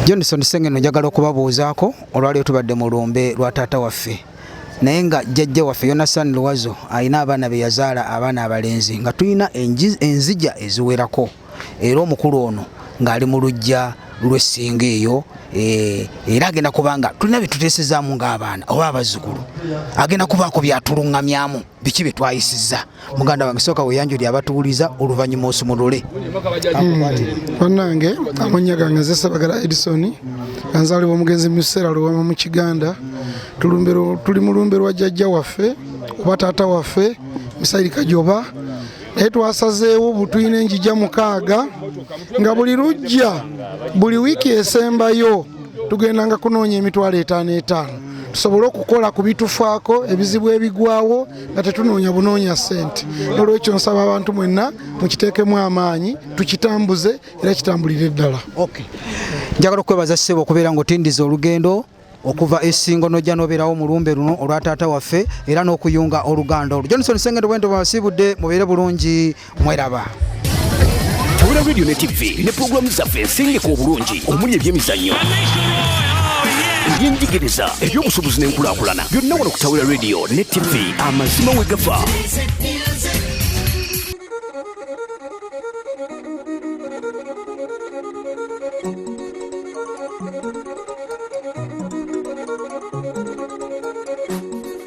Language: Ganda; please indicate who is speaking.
Speaker 1: Johnson Sengeno njagala okubabuuzaako olwaliyo tubadde mu lumbe lwa taata waffe naye nga jjajja waffe Yonasan Luwazo alina abaana be yazaala abaana abalenzi nga tulina enzija eziwerako era omukulu ono ng'ali mu luggya lw'essinga eyo eh, era agenda kubanga tulina bye tuteesezaamu ng'abaana oba abazzukulu agenda kubaako byatuluŋŋamyamu biki bye twayisizza muganda wange sooka weyanjuli abatuwuliza oluvannyuma osumulule bannange
Speaker 2: hmm. amannya gange nze sebagala edison anzaalibwa omugenzi mu kiseera luwama mu kiganda tuli mu lumbe lwa jjajja waffe oba taata waffe musayiri kajoba naye twasazeewo butulina enjija mukaaga nga buli lujja buli wiiki esembayo tugendanga kunoonya emitwalo etaano etaano tusobole okukola ku bitufaako ebizibu ebigwawo nga tetunoonya bunoonya ssente nolwekyo nsaba abantu mwenna mukiteekemu amaanyi tukitambuze era kitambulire ddala njagala
Speaker 1: okwebaza ssebo okubeera nga otindiza olugendo okuva esingo nojja nobeerawo mulumbe luno olwa taata waffe era n'okuyunga oluganda olwo johnson sengendo bwento bwasiibudde mubeere bulungi mweraba
Speaker 3: tabula radio ne tv ne pulogulaamu zaffe ensengeka obulungi omuli ebyemizannyo ebyenjigiriza ebyobusuubuzi n'enkulaakulana byonna wano ku tawula radio ne tv amazima we gafa